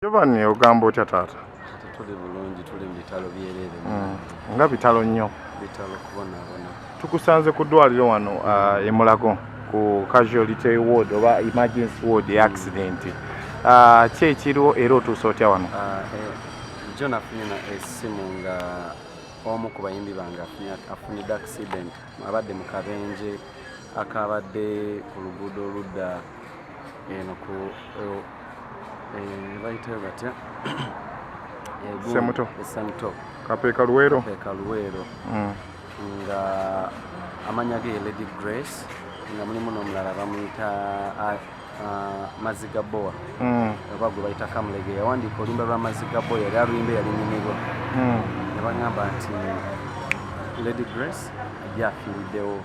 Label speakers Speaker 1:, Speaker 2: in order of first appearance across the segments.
Speaker 1: Giovanni ogamba otya taata? Tuli bulungi
Speaker 2: tuli mu bitalo byerere. Mm. Nga bitalo
Speaker 1: nnyo. Bitalo kubonaabona.
Speaker 2: Tukusanze ku
Speaker 1: ddwaliro wano uh, e Mulago ku casualty ward oba emergency ward ya accident. Uh, ki ekiriwo era otuuse otya wano? Uh, eh, jo
Speaker 2: nafunye na essimu nga omu ku bayimbi bange afunidde accident abadde mu kabenje akabadde ku luguudo oludda eno ku bayitayo batya semuto
Speaker 1: esemuto kapeeka
Speaker 2: luweero kapeeka
Speaker 1: luweero mm.
Speaker 2: nga amanya ge ye lady grace nga mulimu n'omulala bamuyita maziga bowa mm. oba gwe bayita kamulege yawandiika oluyimba lwa maziga bowa yali aluyimba yali nyumirwa mm. ne bagamba nti lady grace ajja afiiriddewo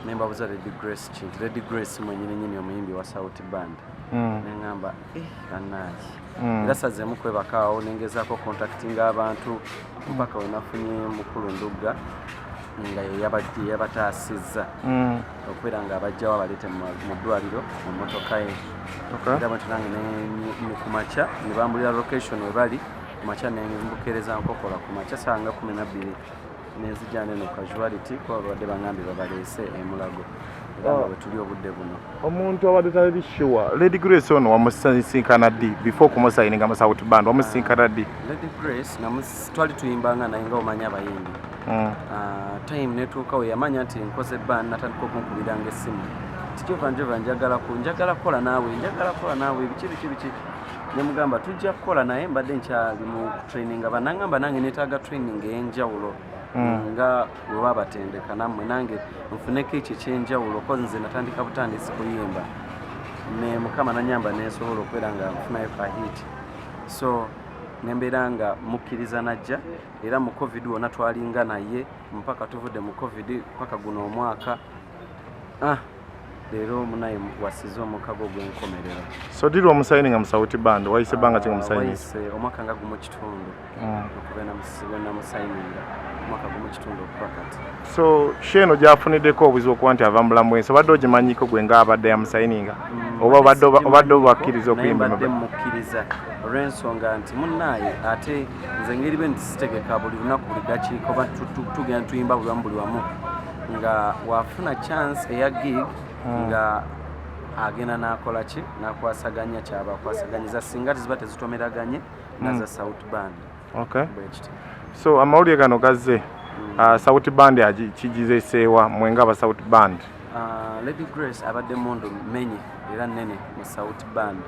Speaker 2: ne mbabuza lady grace kintu lady grace mwenyini nyini omuyimbi wa sauti band mm. nengamba eh, anaki mm. era sazemu kwebakaawo nengezako contactinga abantu mpaka wenafunye mukulu ndugga nga yeyabataasizza mm. okubeera nga abajjawo abaleete mu ddwaliro mu motoka ye era bwentyo nange ku makya ne bambulira location webali ku makya nembukeereza nkokola ku makya sanga kumi nabbiri nenzijana eno casuality kuba babadde bangambye babaleese emulago oh. wetuli obudde buno omuntu abadde tali
Speaker 1: sure lady grace ono wamusisinkana ddi before kumusayininga mu south band wamusisinkana ddi lady grace
Speaker 2: twali tuyimbanga naye nga omanya abayimbi hmm. ah, time netuukawo yamanya nti nkoze band natandika okunkubiranga essimu tikyova njova njagala ku njagala kukola naawe njagala kukola naawe biki biki biki nemugamba tujja kukola naye mbadde nkyali mu traininga banangamba nange netaaga training eyenjawulo hmm. nga webabatendeka namwe nange nfuneko ekyo ekyenjawulo kozi nze natandika butandisi kuyimba ne mukama nanyamba nesobola okubeera nga nfunayo ka hit so nembeera nga mukkiriza najja era mu covid wona twalinga naye mpaka tuvudde mu covid mpaka guno omwaka ah leero munaye wasiza omukago gwenkomerero so diri omusayini
Speaker 1: nga musawuti band wayise banga ki ngamusayinise ah, omwaka nga gumu
Speaker 2: kitundu hmm. okubenamusayininga omwaka gumu kitundu okuba kati so sheeno
Speaker 1: gyafunideko obuzibu okuba nti ava mubulamu bwensi obadde ogimanyiko gwe nga abadde yamusayininga hmm, oba obadde obakkiriza okuyimbade mukkiriza
Speaker 2: olwensonga nti munaye ate nze ngeri be nti sitegeka buli lunaku buli dakiika oba tugenda tuyimba buli wamu buli wamu nga wafuna chance eya gig hmm. nga agenda nakola ki nakwasaganya kyabakwasaganyiza singa tiziba tezitomeraganye naza hmm. south band okay.
Speaker 1: so amawulire gano gazze hmm. uh, south band kigizeseewa mwenga aba south band uh, lady
Speaker 2: grace abadde mundu menye era nene mu south band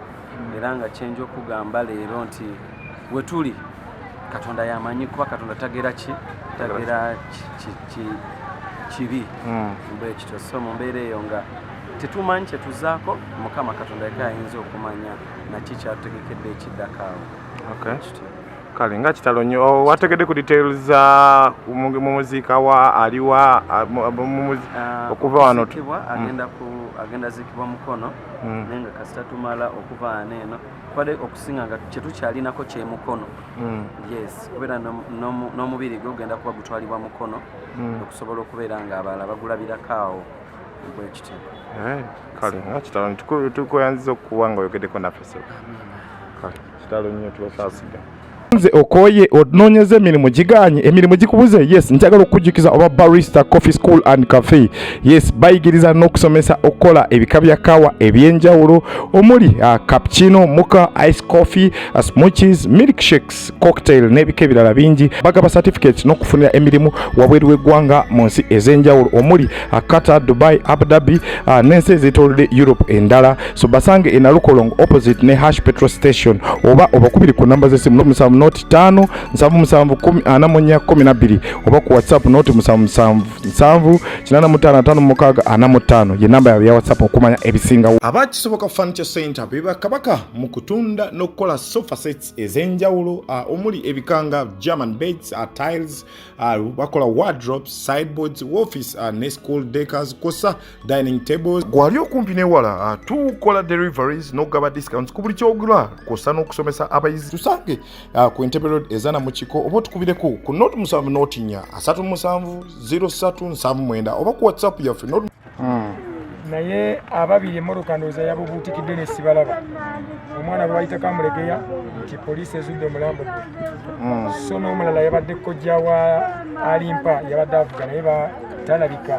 Speaker 2: era nga kyenja okugamba leero nti wetuli katonda yamanyi kuba katonda tagera ki tagera kibi hmm. bwekityo so mu mbeera eyo nga tetumanyi kyetuzaako mukama katonda yeka ayinza okumanya naki kyatutegekedde ekiddakaawo
Speaker 1: kale nga kitalo nnyo oh, wategedde ku details za mu muziika wa aliwa ah, ah, okuva wano hmm.
Speaker 2: agenda zikibwa mukono hmm. naye nga kasita tumala okuva wano eno kwade okusinga nga kyetukyalinako kyemukono mm. yes kubeera n'omubiri gwe ogenda kuba gutwalibwa mukono mm. okusobola okubeera nga abalala bagulabirako awo bwekityo eh,
Speaker 1: kale nga kitalo nti tukuyanziza okukuba nga oyogedeko naffe sebo kale kitalo nnyo tubasaasiga nze okoye ononyeza emirimu giganye emirimu gikubuze yes njagala okukujjukiza oba barista coffee school and cafe yes bayigiriza n'okusomesa okukola ebika bya kawa ebyenjawulo omuli uh, cappuccino muka ice coffee uh, smoothies milk shakes cocktail n'ebika ebirala bingi bagaba certificate n'okufunira emirimu wabweru w'eggwanga mu nsi ez'enjawulo omuli uh, Qatar, Dubai, Abu Dhabi uh, n'ensi ezeetoolodde Europe endala so basange e Nalukolongo opposite ne Hash Petrol Station oba obakubiri ku namba z'essimu noti musanvu noti ttaano nsanvu musanvu kumi ana mu nnya kumi na bbiri oba ku WhatsApp noti musanvu musanvu nsanvu kinaana mu ttaano ataano mu mukaaga ana mu ttaano ye namba yaabwe ya WhatsApp okumanya ebisingawo. Aba Kisoboka Furniture Center be bakabaka mu kutunda n'okukola sofa sets ez'enjawulo uh, omuli ebikanga German beds, uh, tiles, ah, bakola wardrobes sideboards office ah, ne school decors kosa dining tables gwali okumpi newala ah, tukola deliveries nokugaba discounts ku buli kyogula kosa n'okusomesa abayizi tusange ku entebe road ezana mu kiko oba otukubireko ku not musanvu notinya asatu musanvu 03 nsanvu mwenda oba ku whatsapp yaffe hmm. naye
Speaker 3: ababiri emmotoka ndowooza yabubuutikidde ne sibalaba omwana lwayitako amulegeya nti poliisi ezudde omulambo gwe hmm. so n'omulala yabadde kojja wa alimpa yabadde avuga naye batalabika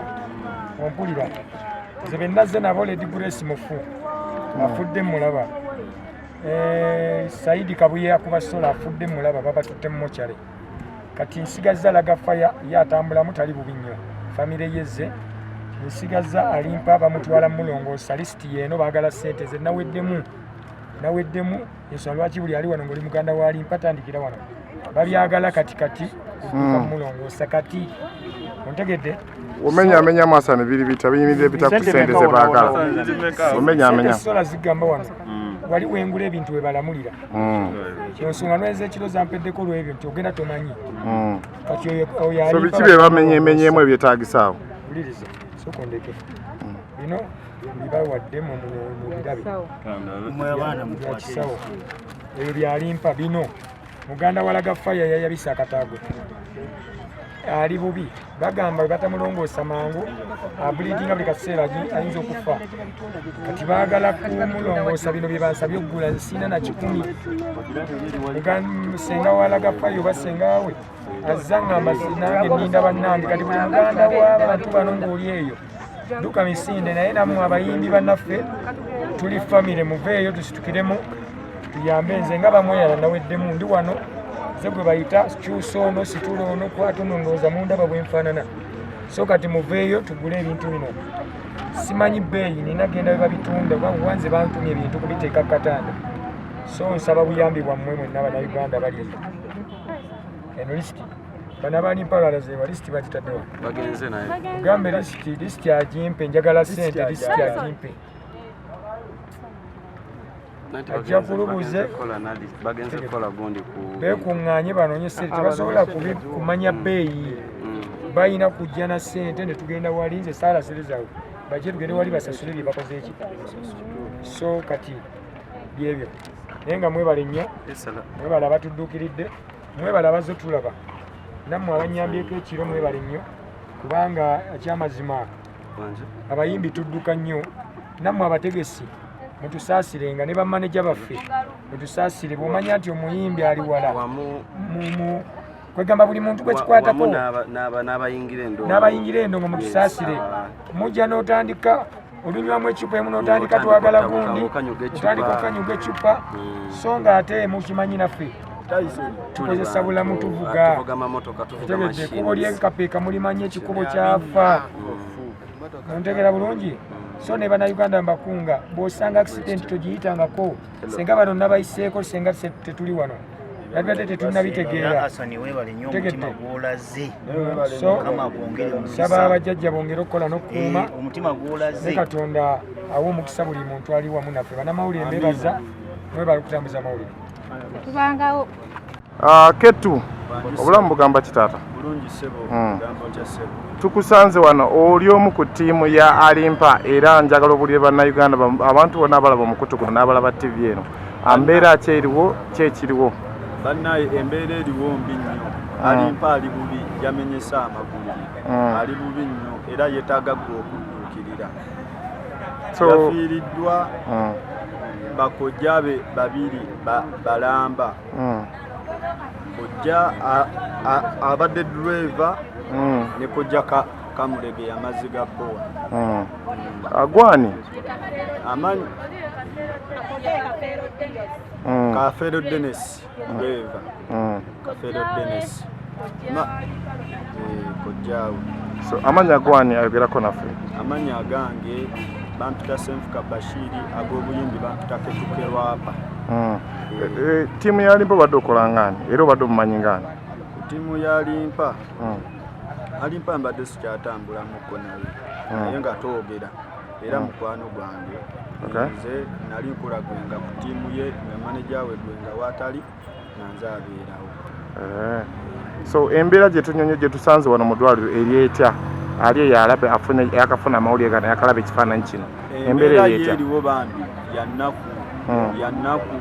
Speaker 3: ompulira nze bennazze nabo ledi grace mufu hmm. afudde mulaba eh, saidi kabuye akuba sola afudde mulaba babatutte mu mokyale kati nsigazza laga faya ye atambulamu tali bubi nnyo famire yeze nsigazza alimpa bamutwala mulongoosa lisiti yeeno baagala ssente ze naweddemu naweddemu ensonga lwaki buli ali wano ngaoli muganda walimpa tandikira wano babyagala kati kati hmm. mulongoosa kati ontegedde omenya amenya
Speaker 1: amasa ne biri bita binyirira ebita ku sente ze baagala omenya amenya sola zigamba
Speaker 3: wano hmm. wali wengula ebintu webalamulira hmm. ensonga nweza ekiro zampeddeko olwebyo nti ogenda tomanyi hmm. kati oyo biki bye bamenyemenyemu
Speaker 1: ebyetagisaawo wuliriza
Speaker 3: sokondeke hmm. bino bibawadde mubirabeyakisawo ebyo byalimpa bino muganda walaga faya yayabisa akataago ali bubi bagamba webatamulongoosa mangu abuliidinga buli kaseera ayinza okufa kati baagala kumulongoosa bino byebansabye okugula nsiina na kikumi senga walaga fayo oba sengawe azza ngamba nange ninda bannange kati buli muganda w'abantu bano ng'oli eyo duka misinde naye namwe abayimbi banaffe tuli famire muveeyo tusitukiremu tuyambe nze nga bamweyala naweddemu ndi wano ze gwe bayita kyusa ono situla ono kwata ono ndowooza mundaba bwenfaanana so kati muveeyo tugule ebintu bino simanyi bbeeyi nina genda bwe babitunda oba wanze bantumya ebintu kubiteeka ku katanda so nsaba buyambi bwammwe mwenna banauganda bali eno eno lisiti bana bali mpalala ze walisti bagitadde wa bagenze naye
Speaker 2: gambe listi
Speaker 3: listi ajimpe njagala sente listi ajimpe ajja kulubuze bekuŋŋaanye banoonye sente tebasobola kumanya mm. beeyi mm. balina kujja na sente ne tugenda wali nze saala sente zaabwe bajje tugende wali basasule bye bakoze eki so kati byebyo naye nga mwebale nnyo mwebale abatudduukiridde mwebale abazze tulaba nammwe abanyambyeko ekiro mwebale nnyo kubanga ekyamazima abayimbi tudduka nnyo nammwe abategesi mutusaasire nga ne bamaneja baffe mutusaasire bwomanya nti omuyimbi ali wala kwegamba buli muntu gwekikwatako n'abayingira endongo mutusaasire mujja n'otandika olunywamu ecupa emu notandika twagala gundi otandika okanyuga ecupa hmm. so nga ate mukimanyi naffe tukozesa bulamu tuvuga tegedde ekubo lyekapeeka mulimanyi ekikubo kyafa hmm. ontegera bulungi hmm. so ne banauganda mbakunga bwosanga accident togiyitangako senga bano nabayiseeko senga tetuli wano nabibadde tetulina bitegeera saba abajjajja bongere okukola n'okukuuma eh, ne katonda awa omukisa buli muntu ali wamu naffe banamawulire mbebaza mwebalikutambuza mawulire
Speaker 4: Ah,
Speaker 1: ketu obulamu bugamba kitaata hmm.
Speaker 5: tukusanze
Speaker 1: wano oli omu ku ttiimu ya alimpa era njagala obulire bannayuganda abantu bona abalaba omukutu guno n'abalaba ttivi eno ambeera ah, ki eriwo ki ekiriwo bannaye
Speaker 5: embeera eriwo mbi nnyo hmm. alimpa ali bubi yamenyesa amagulu hmm. ali bubi nnyo era yetaaga gwe okudduukirira yafiiriddwa bakojjabe babiri balamba ba mm. kojja abadde driver mm. ne kojja ka kamulege yamazzi ga bowa mm.
Speaker 1: agwani
Speaker 5: amanyi kafeero denis driver kafeero denis kojjaawo eh, so amanya
Speaker 1: gwani ayogerako naffe amanya agange
Speaker 5: bampita senfuka bashiri ag'obuyimbi bampita ketukerwapa mm. Eh,
Speaker 1: eh, tiimu ya limpa obadde okola ngaani era obadde omumanyi ngaani tiimu ya
Speaker 5: limpa hmm. alimpa mbadde sikyatambulamuko naye hmm. naye nga twogera era hmm. mukwano gwange nze nali nkulagwenga ku tiimu ye nga maneja we gwenga waatali nga nze abeerawo eh,
Speaker 1: so embeera gyetunyonyo gyetusanze wano mudwaliro eri etya ali eyo alabe yakafuna amawulire gano yakalaba ekifaananyi kino eh, embeera eri etyeriwo bambi
Speaker 5: yanaku hmm. yanaku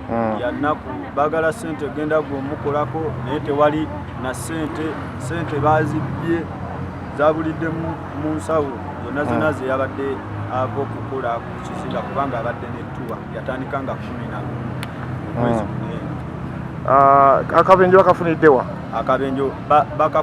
Speaker 5: hmm. yanaku bagala sente genda gwe omukolako naye tewali na sente sente bazibbye zabulidde mu nsawo zonna hmm. zonna zeyabadde ava okukola ku kizinga kubanga abadde netuwa yatandika nga kumi na omwezi Akabenje bakafuniddewa? Akabenje baka